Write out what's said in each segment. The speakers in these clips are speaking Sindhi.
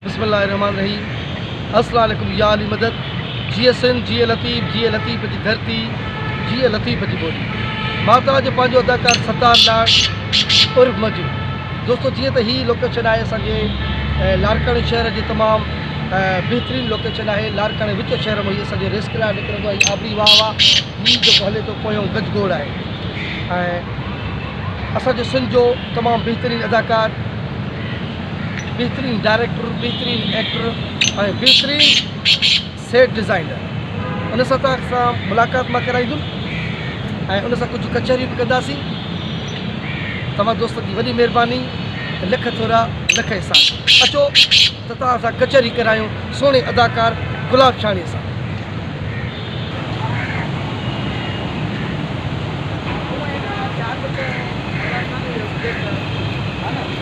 بسم الله الرحمٰن الرحيم السلام عليڪم يا علي مدد جيئي سنڌ جيئي لطيف جيئي لطيف جي ڌرتي جيئي لطيف جي ٻولي مان توهان جو پنهنجو اداڪار ستار لاڙ عرف مجو دوستو جيئن ته هي لوڪيشن آهي اسان جي لاڙڪاڻي شهر جي تمام بهترين لوڪيشن آهي لاڙڪاڻي وچ شهر ۾ هي اسان جو ريسڪ لاء نڪرندو آهي آبري واهه واهه هي جيڪو هلي ٿو پويون گج گوڙ آهي ۽ اسان جو سنڌ جو تمام بهترين اداڪار بهترين ڊائريڪٽر، بهترين ايڪٽر ۽ بهترين سيٽ ڊزائنر ان سان تان سان ملاقات مان ڪرائيندم ۽ ان سان ڪجهه ڪچهري به ڪنداسين توهان دوستن جي وڏي مهرباني لک ٿورا لک احسان اچو ته توهان سان ڪچهري ڪرايون سهڻي اداڪار گلاب شاڻي سان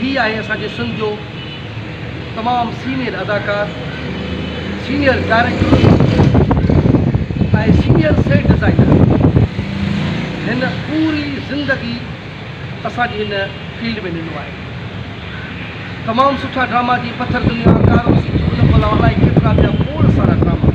هي آهي اسان جي سنڌ جو تمام سينئر اداڪار senior director ۽ senior set designer هن پوري زندگي اسان جي هن فيلڊ ۾ ڏنو آهي تمام سٺا ڊراما جي پٿر دنيا ڪارو سيٽ ان کان علاوه الائي ڪيترا ٻيا کوڙ سارا ڊراما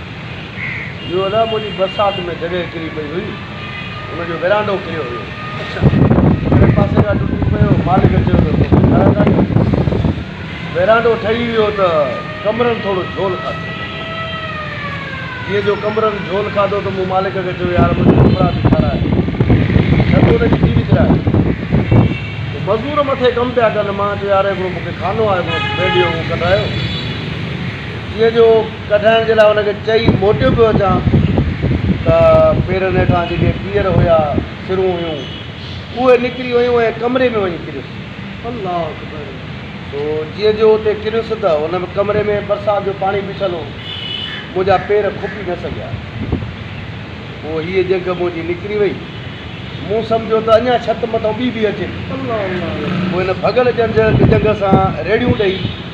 اهو ادا منهنجي برسات ۾ جڳهه ڪري پئي هئي ان جو ورانڊو ڪريو هيو. اڇا ڪهڙي پاسي کان ٽٽي پيو مالڪ چيو ته توکي ٺاهراء ڪانهي آهي ورانڊو ٺهي ويو ته ڪمرن ٿورو جهول کاڌو جيئن جو ڪمرن جهول کاڌو ته مون مالڪ کي چيو يار منهنجي ڪمرا به ٺاهراء ڇت ان جي ڪيري ڪرايو ته مزور مٿي ڪم پيا ڪن مان چيو يار هڪڙو مونکي خانو آهي هڪڙو بيڊيو اهو ڪڍرايو جيئن جو ڪڍڻ جي لاء هن کي چئي موٽيو پيو اچان ته پيرن هيٺان جيڪي پيئر هيا، سرون هيون، اهي نڪري ويون ۽ ڪمري ۾ وڃي ڪريس. الله اڪبر! سو جيئن جو اتي ڪريس ته ان به ڪمري ۾ برسات جو پاڻي بيٺل هو. منهنجا پير کوپي نه سگهيا. پوء هيء جهڳ منهنجي نڪري وئي. مون سمجهيو ته اڃا ڇت مٿان ٻي به اچي ٿي. پوء هن ڀڳل جهڳ سان ريڙهيون ڏئي.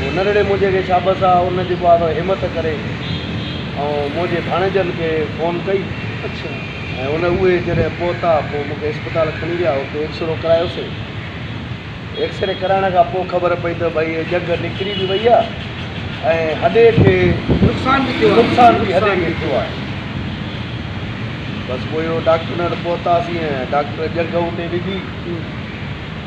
هو ننڍڙي موجي کي شابس آ ان جيڪو آ سو همت ڪري ۽ موجي ڀاڻيجن کي فون ڪئي ۽ ان اهي جڏهن پهتا پوء مون کي اسپتال کڻي ويا اتي ايڪسرو ڪرايوسي ايڪسري ڪرائڻ کان پوء خبر پئي ته ڀئي هي ڄنگهه نڪري به وئي آ ۽ هڏي کي نقصان به ٿيو آ نقصان به هڏي کي ٿيو آهي بس پوء ڊاڪٽرن وٽ پهتاسين ۽ ڊاڪٽر ڄنگهه اتي وڌي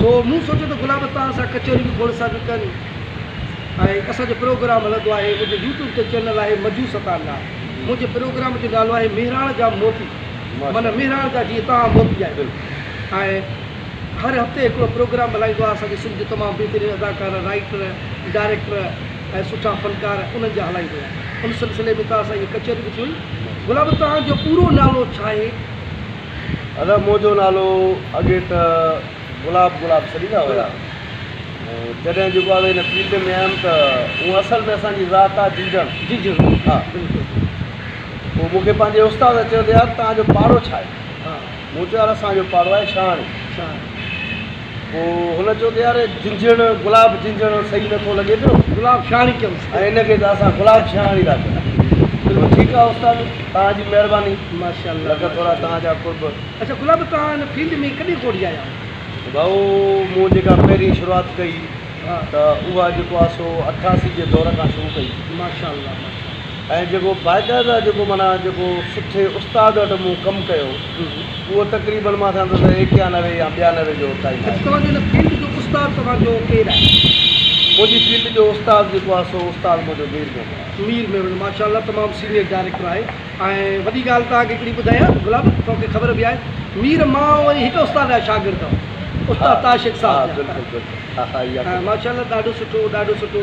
سو مون سوچيو ته گلاب توهان سان ڪچهري به گوڙ سان ٿي ڪن ۽ اسان جو پروگرام هلندو آهي منهنجو يوٽيوب تي چينل آهي مجو ستار لاء منهنجي پروگرام جو نالو آهي مهراڻ جا موتي معنيٰ مهراڻ جا جيئن توهان موتي آهيو ۽ هر هفتي هڪڙو پروگرام هلائيندو آهي اسان جي سنڌ جو تمام بهترين اداڪار رائيٽر ڊائريڪٽر ۽ سٺا فنڪار انهن جا هلائيندو آهي ان سلسلي ۾ توهان سان هيء ڪچهري به ٿي وئي گلاب توهان جو پورو نالو ڇا آهي؟ ادا منهنجو نالو اڳي ته گلاب گلاب سڏيندا هيا ۽ جڏهن جوڳاوي هن فيلڊ ۾ آيم ته هونء اصل ۾ اسان جي ذات آ جيجڻ جيجڻ ها بلڪل پوء مون کي پنهنجي استاد چيو ته يار توهان جو پاڙو ڇا آهي مون چيو يار اسان جو پاڙو آهي شاهاڻي شاهاڻي پوء هن چيو ته يار جنجهڻ، گلاب جنجهڻ، صحيح نه ٿو لڳي پيو. گلاب شهاڻي ڪيوس. ۽ هن کي ته اسان گلاب شهاڻي ٿا چئون. بلڪل. ٺيڪ آهي استاد، توهان جي مهرباني. ماشاء الله. لک ٿورا توهان جا قرب. اڇا گلاب توهان هن فيلڊ ۾ ڪڏهن کوڙجي آيا آهيو؟ ڀائو مون جيڪا پهرين شروعات ڪئي ته اها جيڪو آهي سو اٺاسي جي دور کان شروع ڪئي. ماشاء الله ماشاء الله. ۽ جيڪو باقاعده جيڪو معنيٰ جيڪو سٺي استاد وٽ مون ڪم ڪيو اهو تقريبن مان سان ته ايڪيانوي يا ٻيانوي جو ٽائيم آهي. اڄ توهان جي ان فيلڊ جو استاد توهان جو ڪير آهي؟ منهنجي فيلڊ جو استاد جيڪو آهي سو استاد منهنجو مير محمد آهي. مير محمد ماشاء الله تمام سينيئر ڊائريڪٽر آهي ۽ وڏي ڳالهه توهان کي هڪڙي ٻڌايان گلاب توهان کي خبر به آهي مير مان وري هڪ استاد جا شاگرد هئا استاد طاهر شيخ صاحب جا ماشاء الله ڏاڍو سٺو ڏاڍو سٺو.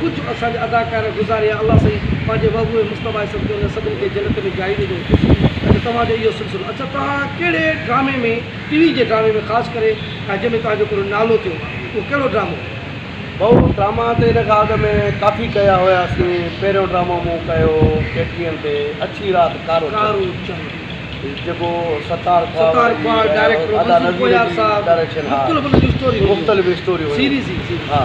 ڪجهه اسان جا اداڪار گذاريا الله سائين پنهنجي محبوب مصطفيٰ جي صدقي انهن سڀني کي جنت ۾ جاء ڏجو اچا توهان جو اهو سلسلو اچا توهان ڪهڙي ڊرامي ۾ ٽي وي جي ڊرامي ۾ خاص ڪري ۽ جنهن ۾ توهان جو ڪهڙو نالو ٿيو اهو ڪهڙو ڊرامو هو. ڀائو ڊراما ته ان کان اڳ ۾ ڪافي ڪيا هياسين پهريون ڊرامو مون ڪيو هو ڪي ٽي اين تي اڇي رات ڪارو چنڊ جيڪو ستار ستار ڪوهاڙ ڊائريڪٽر منظور ڪوهيار صاحب مختلف ان جون اسٽوريون هيون مختلف اسٽوريون هيون سيريز هئي سيريز ها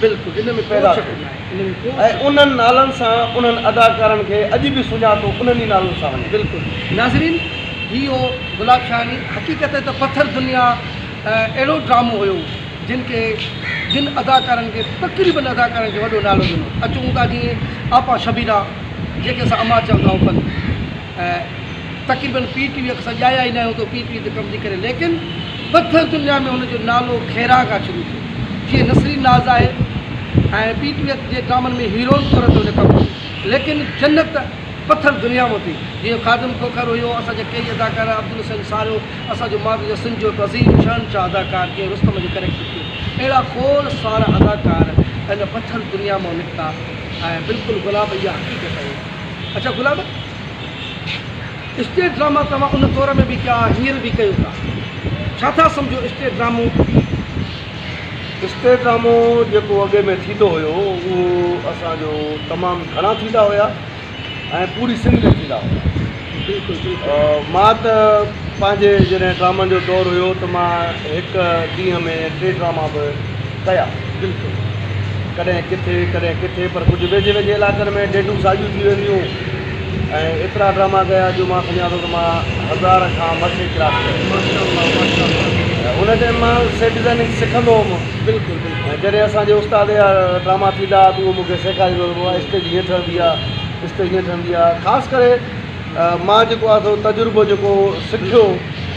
بلڪل ان ۾ ڪو شڪ ناهي ۽ انهن نالن سان انهن اداڪارن کي اڄ به سڃاتو انهن ئي نالن سان وڃي. بلڪل ناظرين هي هو گلاب شاهاني حقيقت ته پٿر دنيا اهڙو ڊرامو هيو جن کي جن اداڪارن کي تقريبن اداڪارن کي وڏو نالو ڏنو اچون ٿا جيئن آپا شبيرا جنهن کي اسان اما چوندا هئون پن تقريبن پي ٽي وي کان سواء ڄايا ئي ناهي هوندو پي ٽي وي تي ڪم ٿي ڪري ليڪن ٻڌل دنيا ۾ هن جو نالو خيران کان شروع ٿيو جيئن نسرين ناز آهي ۽ پي ٽي وي جي ڊرامن ۾ هيروئن طور تي هن ڪم ڪيو ليڪن جنت پٿر دنيا مان ٿي جيئن خادم کوکر هيو اسان جا ڪيئي اداڪار عبدالحسين ساريو اسان جو ماضي جا سنڌ جو هڪ عظيم شهنشاهه اداڪار جيئن رستم جو ڪريڪٽر ٿيو اهڙا کوڙ سارا اداڪار هن پٿر دنيا مان نڪتا ۽ بلڪل گلاب اها حقيقت آهي. اچا گلاب اسٽيج ڊراما توهان ان دور ۾ به ڪيا هينئر به ڪيو ٿا ڇا ٿا سمجهو اسٽيج ڊرامو؟ اسٽيج ڊرامو جيڪو اڳي ۾ ٿيندو هيو اهو اسان جو تمام گهڻا ٿيندا هيا ۽ پوري سنڌ ۾ ٿيندا هيا بلڪل بلڪل مان ته پنهنجي جڏهن ڊرامن جو دور هيو ته مان هڪ ڏينهن ۾ ٽي ڊراما به ڪيا. بلڪل. ڪڏهن ڪٿي، ڪڏهن ڪٿي پر ڪجهه ويجهي ويجهي علائقن ۾ ڊيڊون ساڳيون ٿي وينديون ۽ ايترا ڊراما ڪيا جو مان سمجهان ٿو ته مان هزار کان مٿي ڪلاس ڪيا آهن. ماشاء الله ماشاء الله. ۽ ان ٽائيم مان سيٽ ڊزائننگ سکندو هوم. بلڪل بلڪل. ۽ جڏهن اسان جي استاد جا ڊراما ٿيندا ها ته اهو مون کي سيکاريندو هو ته بابا اسٽيج هيئن ٺهندي آهي، اسٽيج هيئن ٺهندي آهي. خاص ڪري مان جيڪو آهي سو تجربو جيڪو سکيو.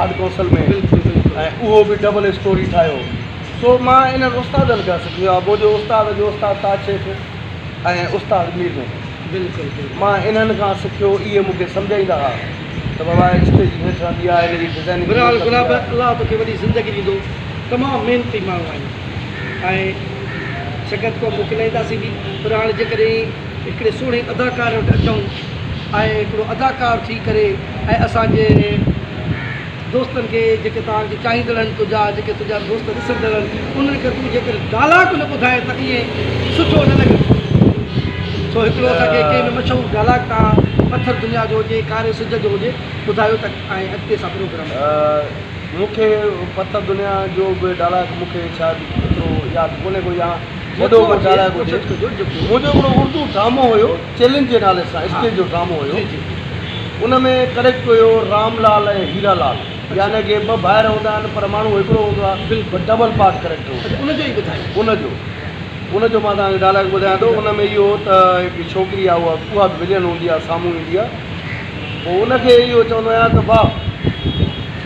آرٽ ڪونسل ۾ ۽ اهو به ڊبل اسٽوري ٺاهيو سو مان انهن استادن کان سکيو آهي بو جو استاد جو استاد تاج شيخ ۽ استاد مير محمد مان انهن کان سکيو اهي مون کي سمجهائيندا هئا ته بابا اسٽيج هيٺ رهندي آهي هن جي ڊزائننگ بهرحال گلاب الله توکي وڏي زندگي ڏيندو تمام محنتي ماڻهو آهين ۽ سنگت ڪو موڪلائينداسين به پر هاڻي جيڪڏهن هڪڙي سهڻي اداڪار وٽ اچون ۽ هڪڙو اداڪار ٿي ڪري ۽ اسان جي دوستن کي جيڪي توهان کي چاهيندڙ آهن تنهنجا جيڪي تنهنجا دوست ڏسندڙ آهن انهن کي تون جيڪر ڊائلاگ نه ٻڌائين ته ائين سٺو نه لڳندو سو هڪڙو اسان کي ڪنهن به مشهور ڊائلاگ تان پٿر دنيا جو هجي ڪاري سج جو هجي ٻڌايو ته ائين اڳتي اسان پروگرام ڪريون. مون کي پٿر دنيا جو به ڊائلاگ مون کي شايد ايترو ياد ڪونهي ڪو يا وڏو مجاڻا ڳوٺي منهنجو هڪڙو اردو ڊرامو هيو چئلينج جي نالي سان اسٽيج جو ڊرامو هيو ان ۾ ڪريڪٽ هيو رام لال ۽ هيرا لال يعني ڪي ٻه ڀائر هوندا آهن پر ماڻهو هڪڙو هوندو آهي بلڪل ڊبل پارٽ ڪريڪٽر هوندو ان جو ئي ٻڌايو ان جو ان جو مان توهان کي ڊائلاگ ٻڌايان ٿو ان ۾ اهو ته هڪ ڇوڪري آهي اها اها به ولين هوندي آهي سامهون ايندي آهي پوء ان کي اهو چوندو آهيان ته واهه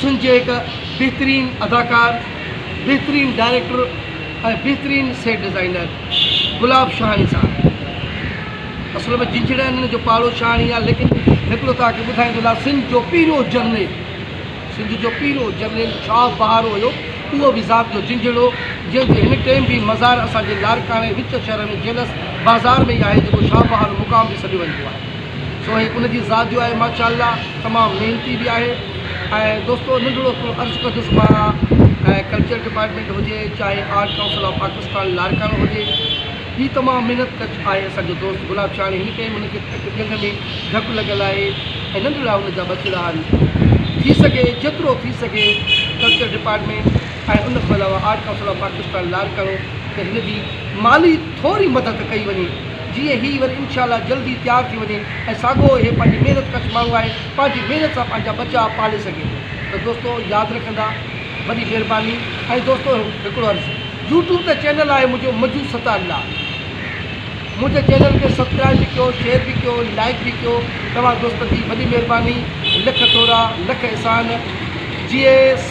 سنڌ جي هڪ بهترين اداڪار، بهترين ڊائريڪٽر ۽ بهترين سيٽ ڊزائينر گلاب شاهاڻي صاحب اصل ۾ جنجهڙي هنڌ جو پاڙو شاهاڻي آهي ليڪن هڪڙو توهان کي ٻڌائي ٿو لاء سنڌ جو پهريون جرنيل سنڌ جو پهريون جرنيل شاهه بهارو هيو اهو به ذات جو جنجهڙو جنهن جو هن ٽيم به مزار اسان جي لاڙڪاڻي وچ شهر ۾ جيلس بازار ۾ ئي آهي جيڪو شاهه بهارو مقام به سڏيو ويندو آهي. سوين ان جي ذات جو آهي ماشاء الله تمام محنتي به آهي ۽ دوستو ننڍڙو ھڪڙو عرض ڪندس مان ۽ ڪلچر ڊپارٽمينٽ ھجي چاھي art council of Pakistan Larkana ھجي ھي تمام محنت ڪچ آھي اسان جو دوست گلاب شھاڻي ھن ٽيم ھن کي ھڪ ڄنگھ ۾ ڌڪ لڳل آھي ۽ ننڍڙا ھن جا ٻه ڇڙا آھن ٿي سگھي جيترو ٿي سگھي ڪلچر ڊپارٽمينٽ ۽ ان کان علاوه art council of Pakistan Larkana کي ھن جي مالي ٿوري مدد ڪئي وڃي جيئن هي وري انشاء الله جلد ئي تيار ٿي وڃي ۽ ساڳو هي پنهنجي محنت ڪش ماڻهو آهي پنهنجي محنت سان پنهنجا ٻچا پالي سگهي ٿو ته دوستو ياد رکندا وڏي مهرباني ۽ دوستو هڪڙو عرض يوٽيوب تي چينل آهي منهنجو مجو ستا الله منهنجي چينل کي سبسڪرائب به ڪيو شيئر به ڪيو لائڪ به ڪيو توهان دوستن جي وڏي مهرباني لک ٿورا لک احسان جيئي